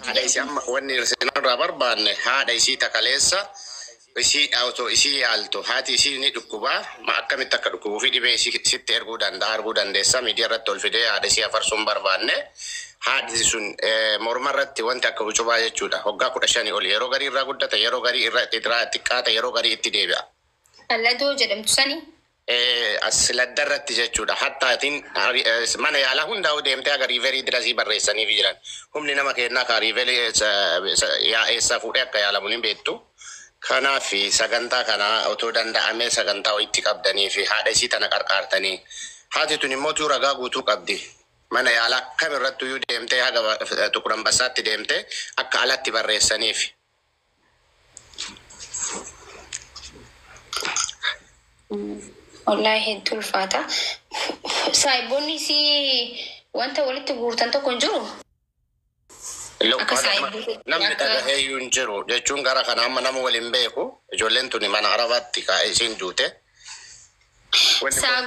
Haadha isii amma wanni irraa barbaanne haadha isii takaleessa isii otoo isii yaaltu haati isii ni dhukkubaa ma akkamitti akka dhukkubuu fi dhibee isii sitti erguu danda'a arguu dandeessa miidiyaa irratti ol fidee haadha isii afarsuun barbaanne haadhi sun morma irratti wanti akka ucubaa jechuudha hoggaa kudha shanii oli yeroo garii irraa guddata yeroo garii irra xixiraa xiqqaata yeroo garii itti deebi'a. Alladoo jedhamtu sani Asladda irratti jechuudha hatta atin mana yaala hundaa'u deemte haga riiverii dirasii barreessaniifi jiran humni nama keennaa kaa riiveli yaa eessaa fuudhee akka yaalamu ni beektu kanaafi sagantaa kana otoo danda'amee sagantaa wayitti qabdaniifi haadha isii tana qarqaartanii haati tuni immoo tuu ragaa guutuu qabdi mana yaala kam irrattuyyuu deemtee haga xuqur ambassaatti deemte akka alatti barreessaniifi Wallaahi hedduu ulfaata. Saahiboonni isii wanta walitti guurtan tokko hin jiru. Akka saahiboota Namni akka dhagahee iyyuu hin jiru jechuun gara kana amma nama waliin beeku ijoolleen tuni mana arabaatti kaa'ee isiin duute. Wanni kun- saa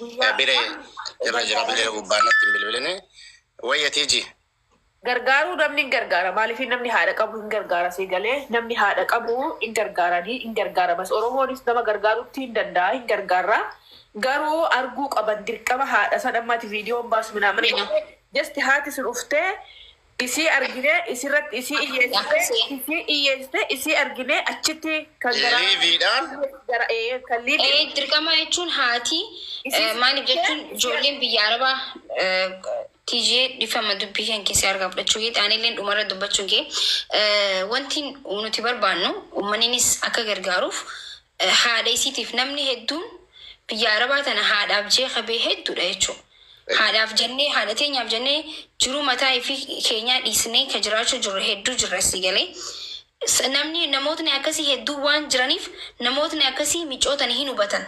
Guyyaa Bire Amma irra jira bile gargaaruu gubbaa natti hin bilbiline. Wayya tiiji. gargaaruu namni hin gargaara maaliif namni haadha qabu hin gargaara sii galee namni haadha qabu hin gargaaranii hin gargaaramas oromoonis nama gargaarutti hin danda'a hin gargaarra garuu arguu qaban dirqama haadha san ammaati viidiyoon baasu minaa mana jasti haati sun uftee isii arginee isirratti isii iyyeessitee isii iyyeessitee isii arginee achitti kan garaa Liiviidhaan? gara ee kan liivi Ee, dirqamaa jechuun haati eh, maaliif jechuun ijoolleen biyya arabaa eh, tijee dhifama dubbii kan keessaa harkaa fudhachuu kee taanilleen dhumarra dubbachuun kee eh, wanti nuti barbaannu ummaniinis akka gargaaruuf Haadha isiitiif namni hedduun biyya arabaa tana haadhaaf jee ka bee hedduudha jechuu haadhaaf jennee haadha teenyaaf jennee jiruu mataa ifii keenyaa dhiisnee ka jiraachuu jirru hedduu jirra sii galee S- namni namootni akkasii hedduu waan jiraniif namootni akkasii micootani hin hubatan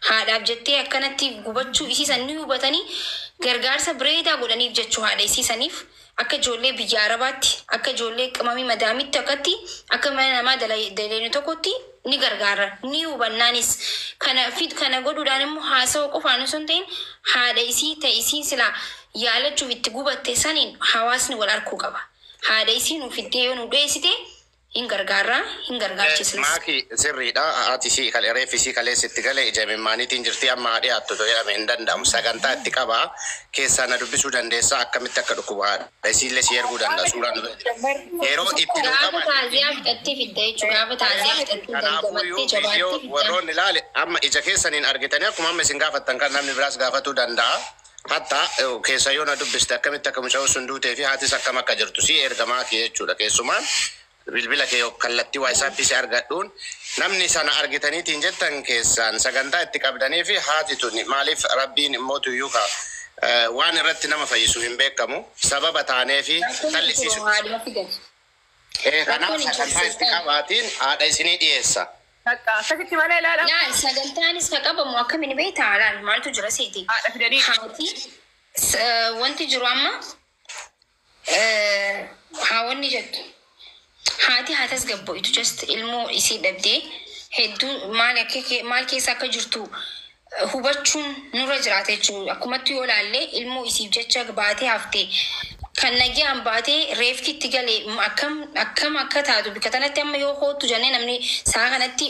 haadhaaf jettee akkanatti gubachuu isii san ni hubatanii gargaarsa bireedaa godhaniif jechuu haadha isii saniif Akka ijoollee biyya Arabaatti, akka ijoollee qimamii madaamitti akkatti akka mana namaa daleynu tokkotti ni gargaarra. Ni hubannaanis. Kana fid kana godhuudhaan immoo haasawa qofaan osoo hin ta'in haadha isii ta isiin silaa yaalachuuf itti gubatte saniin hawaasni wal arkuu qaba. Haadha isii nuu fiddee yoo nuu dhiyeessite Hin gargaarra, hin gargaarchisnas. Maaki, Sirriidha, haati isii kan reeffi isii kaleessa itti gale ija imimmaaniitiin jirti, amma haa dhiyaattu otoo jedhame hin danda'amu. Sagantaa itti qaba. Keessaa na dubbisuu dandeessaa? Akkamitti akka dhukkubu haadha isiillee sii erguu danda'a. Suuraa nu bira jira. Yeroo itti nuu Gaafa qabate. taaziyaa fixattee fidda jechu. Gaafa taaziyaa fixattee dandamattee Kanaafuuyyuu jabaattee viidiyoo fidda. warroonni ilaale amma ija keessaniin argitanii akkuma amma isin gaafattan kana namni biraas gaafatuu danda'a. Hatta, u keessa yoo na dubbiste akkamitti akka mucayoon sun duutee fi haatis akkam akka jirtu si ergamaa kee jechuudha keessumaa bilbila kee yok kallattii waysaappii si argadhuun namni sana argitaniitiin jettan keessaan sagantaa itti qabdanii fi haati tuni maaliif rabbiin immoo tuyyuu ka waan irratti nama fayyisu hin beekamu sababa taanee fi Rakkoon tokko tallisiisu. maalumatti gadi. Ee, kanaaf Rakkoon hin sagantaa itti jirtu. qabaatiin haadha isinii dhiyeessa. Takka akkasitti malee ilaala. Laal sagantaanis ka qabamu akkamiin beektaa? Laal maaltu jira seeti? Haadha fidanii. Haati s- eh, wanti jiru amma eh, haa wanni jettu. Haati haa tasgabboitu just ilmoo isii dhabdee hedduu maal akka kee- maal keessa akka jirtu hubachuun nurra jiraata jechuudha. Akkumatti yoo ilaalle ilmoo isiif jecha baatee hafte kan nagyaan baatee reefti itti gale akkam akkam akka taatu bikka tanatti amma yoo koottu jennee namni sa'a kanatti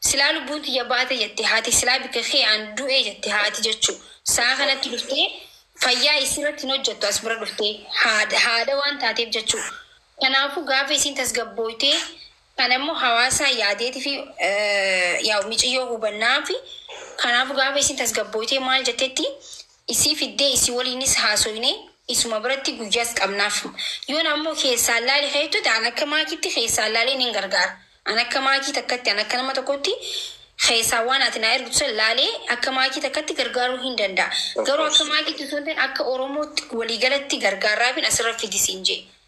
silaa lubbuun tiyya baate jette haati silaa bikka kee aan du'e jette haati jechuu sa'a kanatti dhuftee fayyaa isirratti hin hojjettu as bira dhuftee haadha haadha waan taateef jechuu kanaafu gaafa isiin tasgabbooytee Kana immoo hawaasaa yaadeeti fi yaa'u miciyyoo hubannaafi. Kanaafu gaafa isiin tasgabbooytee maal jettetti isii fiddee isii waliinis haasoynee isuma biratti guyyaas qabnaaf. Yoon ammoo keessaan laali ka jettuti an akka maakiitti keessaan laalee nin gargaara. An akka maakii takkatti an akka nama tokkotti keessaan waan ati naa ergitu san laalee akka maakii takkatti gargaaruu hin danda'a. Garuu akka maakiitti osoo hin ta'in akka Oromootti walii galatti gargaarraafin asirra fidi siin je'e.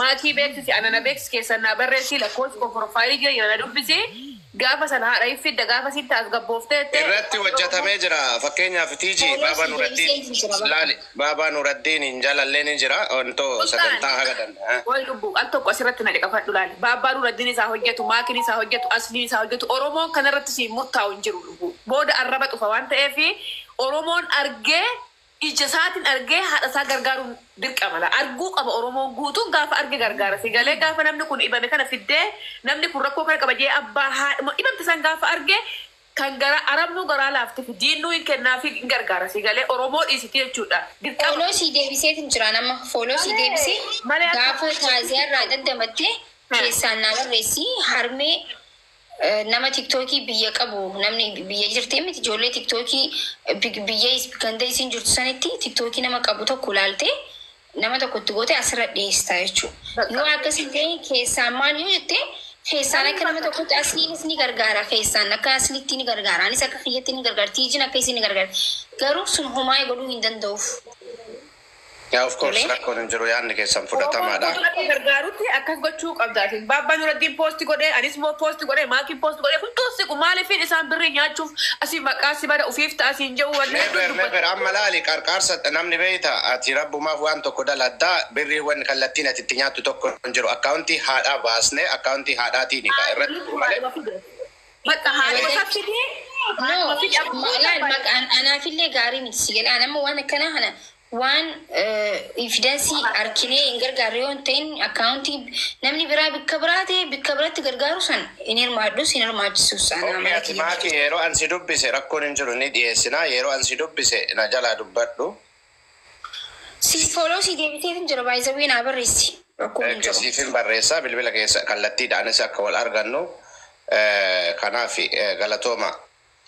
Maakii beeksisi ana na beeksisi keessan naa barreessii lakkoofsi koo profile kiyya jira na dubbisi gaafa sana haadha hin fidda gaafasi hin taasgabboofte jettee Irratti Afaan Oromoo hojjatamee jira fakkeenyaaf TG Baaba Polosi Nuraddiin deebisee isin jira bakka. laali Baaba Nuraddiin hin jalallee ni jira wanto Sultaan sagantaa haga danda'a. qoy lubbu al tokko asirratti na caqafadhu laali Baabbaa Nuraddiinis haa hojjatu Maakiinis haa hojjatu Asliinis haa hojjatu Oromoon kanarratti siin murtaa'u hin jiru lubbu booda arraba dhufa waan ta'eef Oromoon argee Ija isaatin argee haadha isaa gargaaruun dirqama laa arguu qaba oromoon guutuun gaafa arge gargaara si galee gaafa namni kun dhibame kana fiddee namni kun rakkoo kana qaba jee abbaa haadhuma dhibamte san gaafa arge kan garaa arabnuu garaa laaftifi diinnuu hin kennaafi hin gargaara si galee oromoo dhiisiti jechuudha dirqama. Follow sii deebiseetin jiraan amma follow sii deebisee Malee akka gaafa taaziyaa irraa daddamatte keessaan naa barreessi harmee Nama tiktoki biyya qabu namni biyya jirti miti ijoollee tiktoki biyya ganda isiin jirtu sanitti tiktoki nama qabu tokko ilaalte nama tokko itti goote asirra dhiyeessita jechuu yoo akkas hin ta'e keessaan maal yoo jette keessaan akka nama tokkotti asliinis ni gargaara keessaan akka asliitti ni gargaara anis akka kiyyatti ni gargaara tiijin akka isiin ni gargaara garuu sun homaa godhuu hin danda'uuf Yaa of course rakkoon hin jiru yaadni keessan fudhatamaadha. Oromoon Oromoo gargaarutti akkas gochuu qabda atin. Baabbaa Nuraddiin post godhe, anis immoo post godhe, Maakiin post godhe hunduu hin siqu. Maaliifin isaan birrii nyaachuuf asi maqaa si bada ufiif ta'a siin je'u wanni hedduun Never never dubbata. amma laali qarqaarsa namni beeyta ati rabbumaaf waan tokko daladda birrii wanni kallattiin ati itti nyaattu tokko hin jiru akkaawuntii haadhaa baasnee akkaawuntii haadhaatiini ka Haadha irratti bilisuma malee. dhuma fide. Bakka haaluma Kabajaa- fidee No, haaluma fidee ma- abbootii laal abbaa- maqaan anaafillee gaarii miti si galee anammoo waan akkanaa kana waan evidansii arkinee hin gargaarre yoo hin ta'in akkaawuntii namni biraa bikka biraa ta'e bikka biratti gargaaru san hin hirmaadhus hin hirmaachisus anaa Oomishni mala ati kiyya. maaki yeroo ansi dubbise rakkoon hin jiru ni dhiyeessina yeroo ansi dubbise na jalaa dubbadhu Siif follow sii deebiteefin jira by the way naa barreessi rakkoon hin jiru. Siifin barreessa bilbila keessa kallattiidhaanis akka wal argannu kanaaf galatooma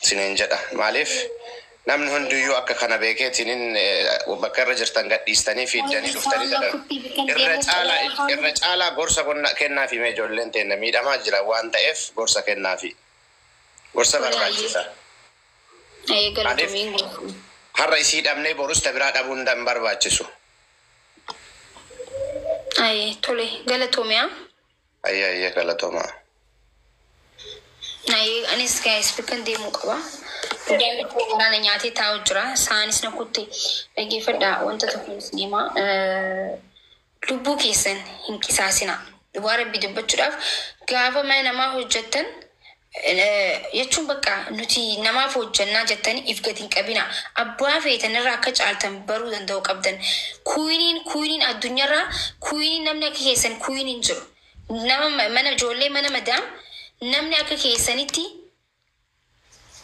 siniin jedha maaliif namni hundiyyuu akka kana beekeetiinin bakka irra jirtan gadhiistanii fiiddanii dhuftanii sadarkaa irra caalaa gorsa kennaafi mee ijoolleen teenna miidhamaa jiran waan ta'eef gorsa kennaafi gorsa barbaachisa. Ee, galatomiin gaafa. Har'a isii dhabnee borus ta biraa dhabuun hin barbaachisu. Ayee, tole, galatomiyaa. Ayye ayye galatomaa. Ayee, anis gaayis bakkan deemuu qaba. Guddaan koo garaa na nyaatee taa'u jira. Saanis na kutte. Dhaggeeffadhaa wanta tokko isinimaa. Lubbuu keessan hin qisaasinaa. Dhugaa Rabbii dubbachuudhaaf gaafa mana namaa hojjattan jechuun bakka nuti namaaf hojjannaa jettanii if gad hin qabinaa. Abbaa feetan irra akka caaltan baruu danda'uu qabdan. Kuwiniin kuwiniin addunyarraa kuwiniin namni akka keessan kuwiniin hin jiru. Nama mana ijoollee mana madaam namni akka keessanitti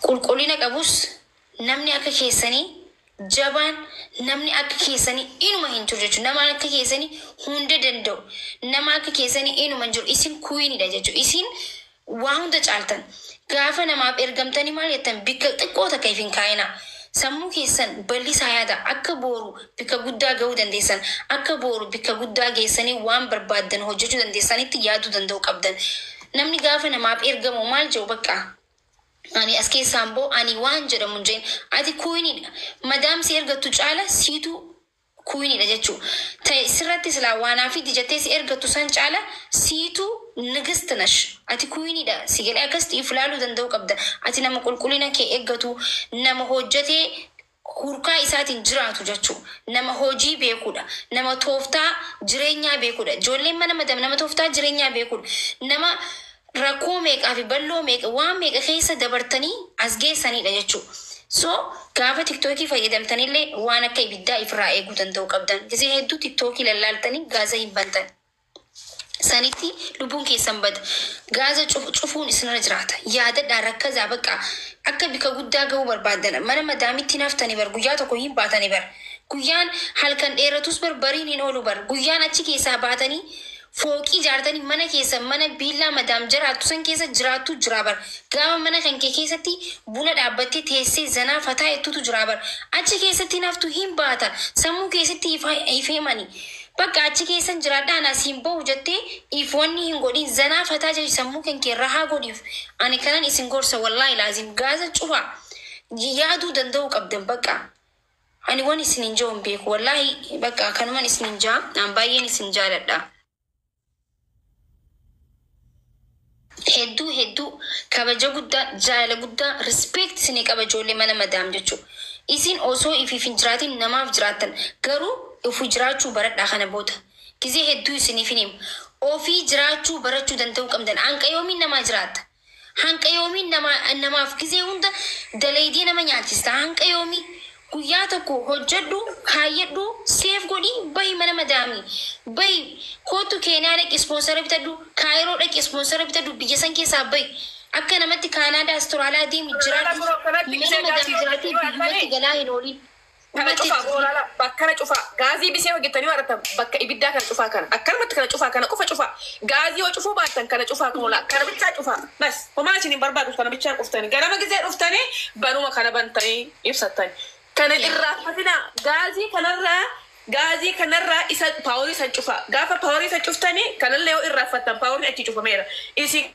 qulqullina qabus namni akka keessanii jabaan namni akka keessanii inuma hin jiru jechuudha nama akka keessanii hunda danda'u nama akka keessanii inuma hin jiru isin kuwiinidha jechuudha isin waa hunda caaltan gaafa namaaf ergamtanii maal jettan bikka xiqqoo takka if hin kaa'inaa sammuu keessan bal'isaa yaada akka booru bikka guddaa ga'uu dandeessan akka booru bikka guddaa geessanii waan barbaaddan hojjechuu dandeessanitti yaaduu danda'u qabdan Namni gaafa namaaf ergamu maal jedhu bakka Ani as keessaan ba'u ani waan jedhamu hin jedhin ati kuwiniidha madaam si ergattu caala siitu kuwiniidha jechu ta'e sirratti silaa waanaafiitti jettee si ergattu san caala siitu nigist nash ati kuwiniidha si galee akkasitti if laaluu danda'uu qabda ati nama qulqulina kee eggatu nama hojjatee hurkaa isaatiin jiraatu jachuu nama hojii beekuudha nama tooftaa jireenyaa beekuudha ijoolleen mana madam nama tooftaa jireenyaa beekuudha nama rakkoo meeqaa fi balloo meeqa waan meeqa keessa dabartanii as geessaniidha jachuu so gaafa tiktookii fayyadamtanillee waan akka ibiddaa ifirraa eeguu danda'uu qabdan gizee hedduu tiktookii lallaaltanii gaaza hin bantan sanitti lubbuun keessan bada. Gaaza cuf, cufuun isinirra jiraata. Yaadadhaa rakkazaa baqqaa. Akka bika guddaa gahuu barbaaddana. Mana madaamitti hin haftani bar guyyaa tokko hin baatani bar. Guyyaan halkan dheeratuus bar bariin hin oolu bar. Guyyaan achi keessaa baatanii fooqii ijaartanii mana keessan mana biillaa madaam jaraattu san keessa jiraattuu jiraa bar. Gaafa mana kan kee keessatti buna dhaabbattee teessee zanaa fataa jettuutu jiraa bar. Achi keessatti hin haftu hin baata. Sammuu kee sitti ifa, ifeemani. Bakka achi keessan jiraadha an asi hin bahu jette if wanni hin godhin zanaa fataa jedhi sammuu kan kee rahaa godhif ani kanan isin gorsa wallahi laazim gaaza cufa yaaduu danda'uu qabdan bakka ani wan isinin ja'u hin beeku wallahi bakka kanuman isinin ja'a an baay'een isin jaaladha. Hedduu hedduu kabaja guddaa jaalala guddaa respect isinii qaba ijoollee mana madaam jechuu isiin osoo ifiif hin jiraatiin namaaf jiraattan garuu ofii jiraachuu baradhaa kana booda gizee hedduu isiniifin hima ofii jiraachuu barachuu danda'uu qabdan hanqa yoomii namaa jiraatta Hanqa yoomii nama namaaf gizee hunda dalaydee nama nyaachista hanqa yoomii guyyaa tokko hojjadhu kaayyadhu save godhi bahi mana madaami bahi koottu keeniyaa dhaqi sponsora bitadhu kaayiroo dhaqi sponsora bitadhu biyya san keessaa bahi akka namatti kaanaadaa astoraaliyaa deemi jiraadhu mana madaam jiraatee biyyumatti galaa hin oolin. Kana cufaa boo laala bakkana cufaa gaazii bisee hojjettanii warattan bakka ibiddaa kana cufaa kana akkanumatti kana cufaa kana qofa cufaa gaazii yoo cufuu baattan kana cufaa kunoo laal kana bichaa cufaa bas homaa isin hin barbaadu kana bichaa cuftanii ganama gizee dhuftanii banuma kana bantanii ibsattani kana hin irraaffatinaa gaazii kanarraa gaazii kanarraa isa paaworii san cufaa gaafa paaworii san cuftanii kanallee yoo irraaffattan paaworii achii cufameera isin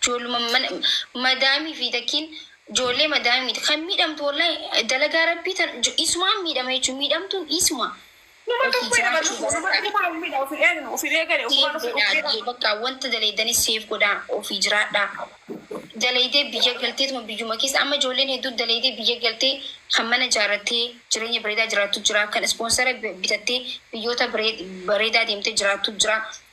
Ijoolluma mana madaamii fi takkiin ijoollee madaamii miti kan miidhamtu wallahi dalagaa rabbii tan isumaan miidhama jechuun miidhamtuun isuma Numa ofi tokko nama jiraachuu dhufu numa barbaada. numa miidha ofi eegnu ofi eegale ofumaan Seef ofi godhaa miidha. biyya bakka wanta dalaydanis seef godhaa ofii jiraadhaa. Dalaydee biyya galteetuma biyyuma keessa amma ijoolleen hedduu dalaydee biyya galtee kan mana ijaarrattee jireenya bareedaa jiraattu jira kan ispoonsara bitattee biyyoota baree- bareedaa deemtee jiraattu jira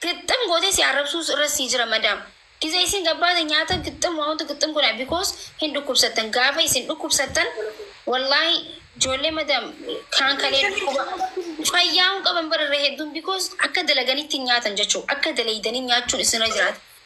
Gixxim gootee si arrabsuus irra sii jira madam gize isiin gabbaate nyaata gixxim waa hunda gixxim godha because hin dhukkubsattan gaafa isin dhukkubsattan wallahi joollee madam kaan kalee dhukkuba fayyaa hin qaban bara irra hedduun because akka dalaganitti hin nyaatan jechuu akka daleeydanii nyaachuun isinirra jiraata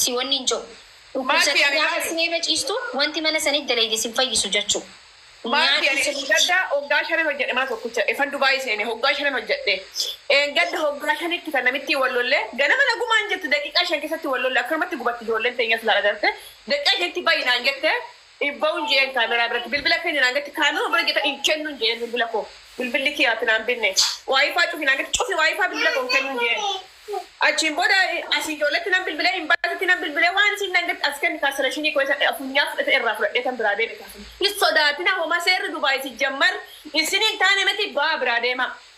si wannin ja'u dhukkubsatee Maalfi ani gaafa maali? siree irra ciistu wanti mana sanitti dalayde sin fayyisu jachu Maalfi nyaadhu ani sirritti gadda hoggaa shanan hojjedhe mana tokkicha efan Dubai seene hoggaa shanan hojjedhe dheengadda hoggaa shanitti kan namittiin wal lolle ganama nagumaan jirti daqiiqaa shan keessatti wal lolle akkanumatti gubatti ijoolleen teenyas laala garte daqiiqaa shanitti bayi naan jette Hin ba'un je'een kaameraa biratti. Bilbila kenni naan jetti. Kaameruma bira jette hin kennun je'een bilbila koo. Bilbilli kiyya ati naan binne. Waayifaa cufi naan jetti. Cufi waayifaa bilbila koo hin kennun je'een. Achiin booda asii ijoolletti nan bilbilee, imbaasitti nan bilbilee waan isiin naan jetti as kenni kaansileeshinii koo isa funyaa fudhate irraa fudhadheetan biraa deeme kaasile. Hin sodaatina homaa seerri Dubaay sijjammar isinii hin taane miti ba'aa biraa deemaa.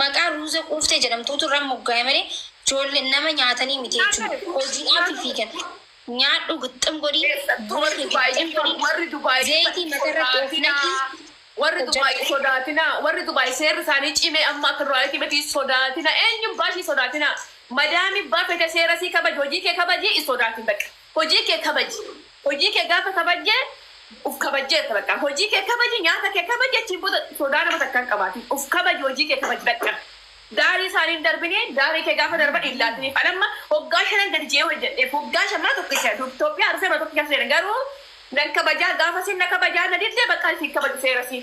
Maqaa Ruuza Quuftee jedhamtuutu irra moggaa'e malee joollen nama nyaatanii miti jechuudha. Hojiidhaafi fiigan. Nyaadhu gixxim godhi, buna kee gixxim godhi, zeeyitii matarratti of naqii Warri Dubai hojjadhu. sodaatina warri Dubai seerri isaanii cimee amma akka duraanitti miti sodaatina eenyu baa ishii sodaatina madaami baa fete seera sii kabaji hojii kee kabaji hin sodaatin bakka. Hojii kee kabaji. Hojii kee gaafa kabajje uf kabajjeetta bakka. Hojii kee kabaji, nyaata kee kabaji achiin booda sodaa nama takkaa hin qabaatin. Uf kabaji hojii kee kabaji bakka. Daarii isaanii hin darbini, daarii kee gaafa darban hin laatiniif. An amma waggaa shanan gadi je'ee hojjadheef waggaa shan mana tokkicha seena. Dur Toophiyaa dhufee mana tokkicha seena garuu nan kabajaa gaafa isin na kabajaa na didde bakka isin kabaju seera isii.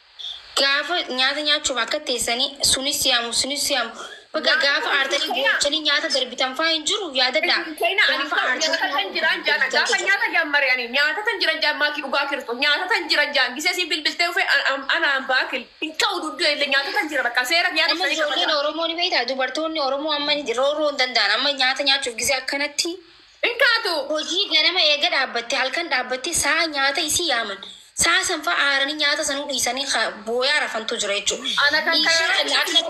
Gaafa nyaata nyaachuuf akka teessanii sunis yaamu sunis yaamu bakka gaafa aartanii boochanii nyaata darbitan faa hin jiru yaadadhaa gaafa aartanii nyaata darbitan gaafa nyaata jammare ani nyaata tan jiran jaan maaki dhugaa kirsto nyaata tan jiran jaan gisee siin bilbiltee ufe ana baakil hin ta'u duddee illee nyaata tan jira bakka seera nyaata amma ijoolleen oromoo ni beektaa dubartoonni oromoo amma rooroo hin danda'an amma nyaata nyaachuuf gisee akkanatti Hin kaatu! Hojii ganama eega dhaabbatte halkan dhaabbattee sa'a nyaata isii yaaman. Sa'a san fa'a aaranii nyaata sanuu dhiisanii ka booyaa rafantu jira jechuudha. Ana kan kana Ishii irratti akka